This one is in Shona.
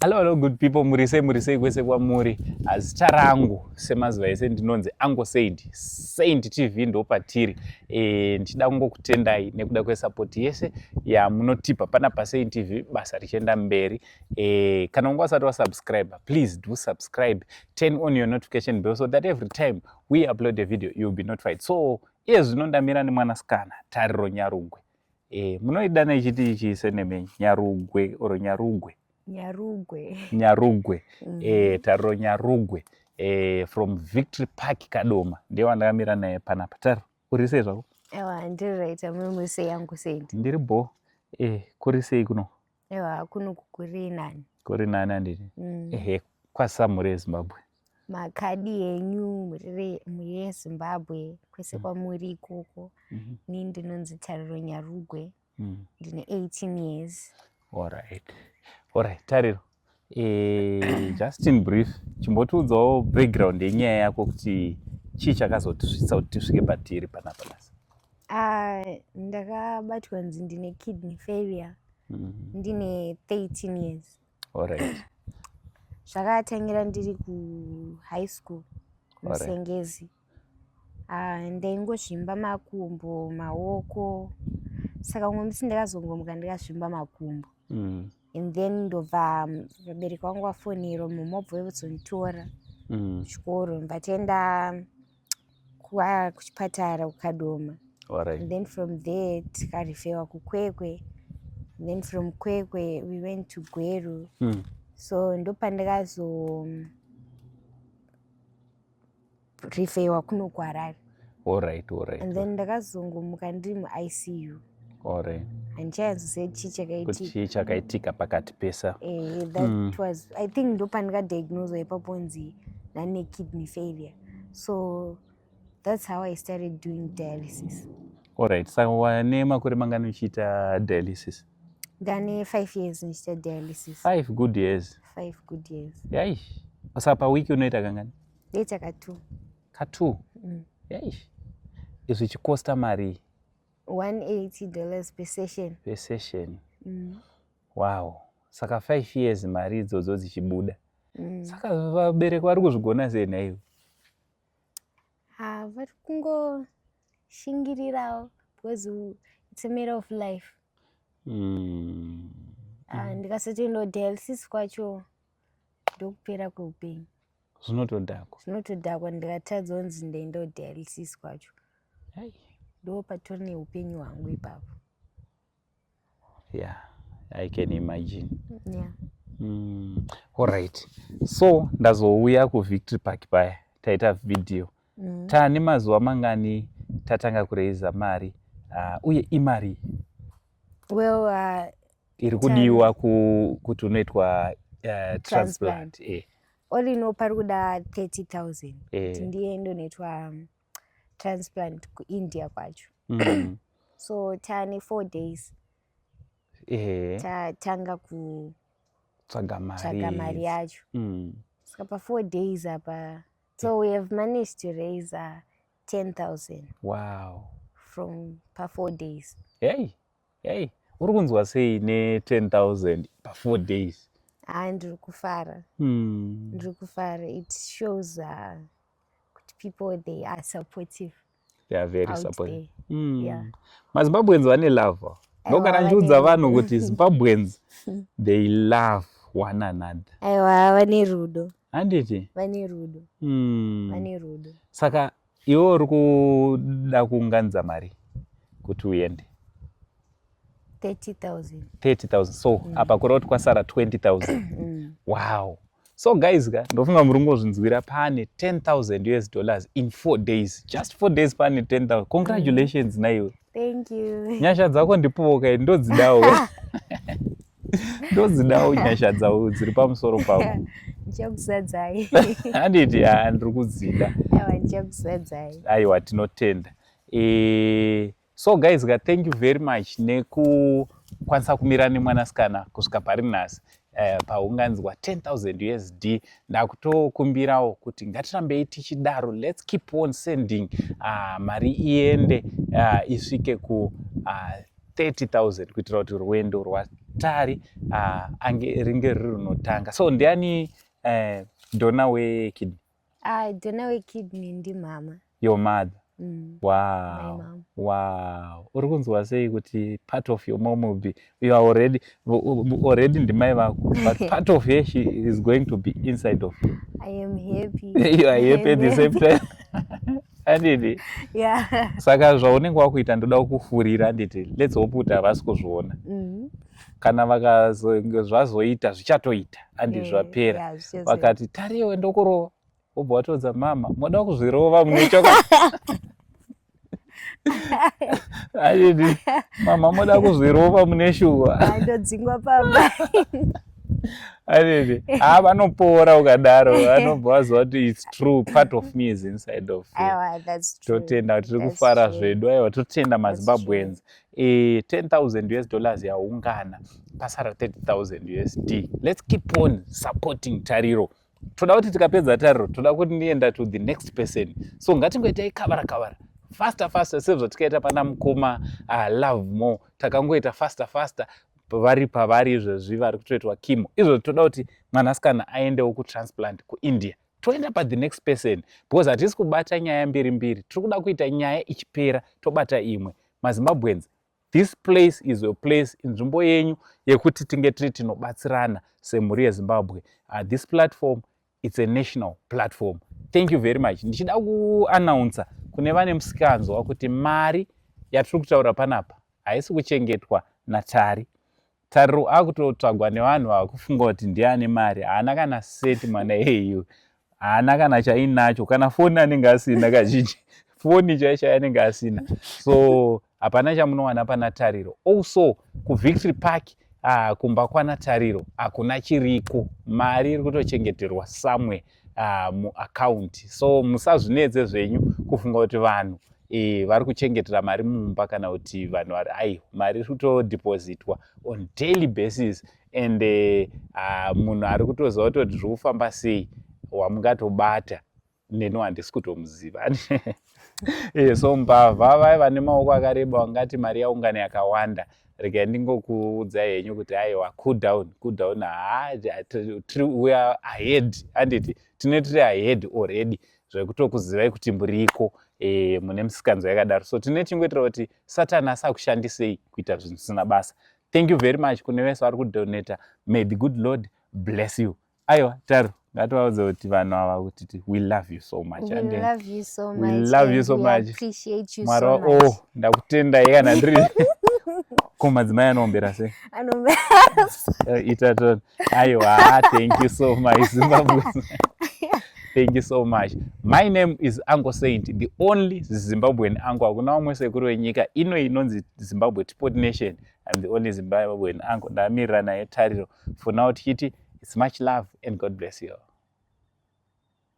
Hello, hello good people, muri sei muri sei kwese kwamuri. Zita rangu semazuva ese ndinonzi Uncle Saint. Saint TV ndo patiri. Eh, ndichida kungokutendai nekuda kwesupport yese yamunotipa pana pa Saint TV basa richienda mberi. Eh, kana unga usati wasubscribe, please do subscribe. Turn on your notification bell so that every time we upload a video you'll be notified. So, iye zvino ndamira nemwanasikana Tariro Nyarungwe. Eh, munoidana ichiti ichi seneme nyarugwe or nyarugwe nyarugwe nyarugwe mm. eh, taro nyarugwe eh, from victory park kadoma ndiye wandakamira naye panapa taro uri sei zvako ewa ndiri right amwe muri sei yangu sendi ndiri bho eh, kuri sei kuno Ewa kunoku kuri nani. Kuri nani anditi? Mm. Ehe kwasamure Zimbabwe. Makadi enyu murire muye Zimbabwe kwese mm. kwamuri ikoko. Mm -hmm. Ni ndinonzi Tariro Nyarugwe. Mm. Ndine 18 years. All right. All right. Tariro. Eh, just in brief chimbotiudzawo background yenyaya yako kuti chii chakazotisvitsa kuti tisvike patiri panapa basa ah, ndakabatwa nzi ndine kidney failure mm-hmm. ndine 13 years alright zvakatangira ndiri kuhigh school musengezi Ah, ndaingozvimba makumbo maoko saka umwe musi ndakazongomuka ndikazvimba makumbo mm. and then ndobva um, vabereki vangu vafonero mama obva vevozonditora mm. chikoro ndatienda kuchipatara kukadoma right. and then from there tikarifewa kukwekwe and then from kwekwe we went to gweru mm. so ndopandikazo um, kuzorifeiwa kuno kuharare alright alright and then ndakazongomuka ndiri muicu alright handichayanzose chii chakaitikachii chakaitika pakati pesa eh, that mm. was i think ndopandikadiagnoswa ipaponzi nane kidney failure so that's how i started doing dialysis alright saka so, wane makore mangani uchiita dialysis ndane five years ndichiita dialysis five good years five good years yaish saka pawiki unoita kangani ndoita katwo katwo mm. yaish izvi chikosta marii 180 dollars per session per session mm. wow saka five years mari idzodzo dzichibuda mm. saka vabereki vari kuzvigona sei nhaivo ha vari kungo shingirirawo because it's a matter of life mm. uh, ndikasati ndodialysis kwacho ndokupera kweupenyu zvinotodhakwa zvinotodhakwa ndikatadza onzi ndaindo dialysis kwacho ndo patori neupenyu hwangu ipapo yeah i can imagine yeah. mm. alright so ndazouya kuvictory park paya taita video mm. taane mazuva mangani tatanga kuraiza mari uh, uye imari well, uh, iri kudiwa ku, kuti unoitwa uh, transplant eh. all ino pari kuda 30 000 eh. ndiye ndonoitwa um, transplant kuindia kwacho mm. so tane four days eh. tatanga kutsvaga mari yacho mm. ska pa four days apa so we have managed to raise uh, 10000 wow from pa four days hey hey uri kunzwa sei ne 10000 pa four days haa ndiri kufara hmm. ndiri kufara it shows uh, kuti people they are supportive they are very supportive mm. yeah. mazimbabweans vane love ndo kana ndichiudza vanhu kuti zimbabweans they love one another aiwa vane rudo handiti vane rudo mm. vane rudo saka iwe uri kuda kuunganidza mari kuti uende 30,000. 30,000. So mm. apa kureva kuti kwasara 20,000. Mm. Wow. So guys ka ndofunga muri kungozvinzwira pane 10,000 US dollars in 4 days. Just 4 days pane 10,000. Congratulations mm. naiwe. Thank you. Nyasha dzako ndipowo kai ndodzidawo. ndodzidawo nyasha dzavo dziri pamusoro pavo ndichakuzadzai handiti ha ndiri kudzida aiwa ndichakuzadzai aiwa tinotenda e... so guys ka thank you very much nekukwanisa kumira nemwanasikana kusvika pari nhasi eh, paunganzwa 10000 usd ndakutokumbirawo kuti ngatirambei tichidaro lets keep on sending uh, mari iende uh, isvike ku uh, ah, 30000 kuitira kuti rwendo rwatari uh, ange ringe riri runotanga so ndiani uh, dona wekidney I don't know a kid ndi mama. Your mother. Mm. Wow. Wow. Uri kunzwa sei kuti part of your mom will be you are already already ndimai vako but part of her she is going to be inside of you. I am happy. you are happy at the same time. Andidi. Yeah. Saka zvaunenge wakuita ndoda kukufurira anditi. Let's hope kuti havasi kuzviona. Mm. kana zvazvazoita zvichatoita andi eh, zvapera vakati tariwe ndokurova wobva watoudza mama moda kuzvirova mune chokwadi aidi mama moda kuzvirova mune shuwa ndodzingwa pamba aidi haa ah, vanopora ukadaro vanobva vaziva kuti its true part of me is inside of totenda tiri kufara zvedu aiwa totenda mazimbabweans e, 10000 us dollars yaungana pasara 30000 usd let's keep on supporting tariro toda kuti tikapedza tariro toda kuti ndienda to the next person so ngatingoitai kavara kavara faster faster sezvatikaita pana mukoma uh, love more takangoita faster faster vari pavari izvezvi vari kutoitwa kimo izvozvi toda kuti mwanasikana aendewo kutransplant kuindia toenda pa the next person because hatisi kubata nyaya mbiri mbiri tiri kuda kuita nyaya ichipera tobata imwe mazimbabweans this place is a place inzvimbo yenyu yekuti tinge tiri tinobatsirana semhuri yezimbabwe uh, this platform its a national platform thank you very much ndichida kuanaunsa kune vane musikanzwa kuti mari yatiri kutaura panapa haisi kuchengetwa natari Tariro akutotsvagwa nevanhu vakufunga kuti ndiye ane mari haana kana seti mwana iyeyu haana kana chainacho kana foni anenge asina kazhinji foni chaichai anenge asina so hapana chamunowana pana tariro also kuvictory park uh, kumba kwana tariro hakuna chiriko mari iri kutochengeterwa somewhere uh, muakaunti so musazvinetse zvenyu kufunga kuti vanhu e, vari kuchengetera mari mumba kana kuti vanhu vari ai mari iri kutodhipozitwa on daily basis and uh, munhu ari kutoziva kutoti zviri kufamba sei wamungatobata neni wandisi kutomuziva Iye eh, so mbavha vaya vane maoko akareba wangati mari yaungana yakawanda regai ndingokuudzai henyu kuti haiwa cool down cool down haa we are ahead handiti tine tiri ahead already zvekutokuzivai kuti muriko e, mune misikanzo yakadaro so tine chingoitira kuti satani asakushandisei kuita zvinhu zvisina basa thank you very much kune vese vari kudonata may the good lord bless you aiwa taro ngativaudze kuti vanhu ava kuti we love you so much mwari wa oh ndakutendai kana ndiri ko madzimai anoombera se eh, ita to aiwa ah, thank you so much zimbabwe thank you so much my name is uncle saint the only zimbabwean uncle hakuna vamwe sekuru venyika ino inonzi zimbabwe tipot nation I'm the only Zimbabwean uncle ndamirira naye tariro for now tichiti it's much love and God bless you all.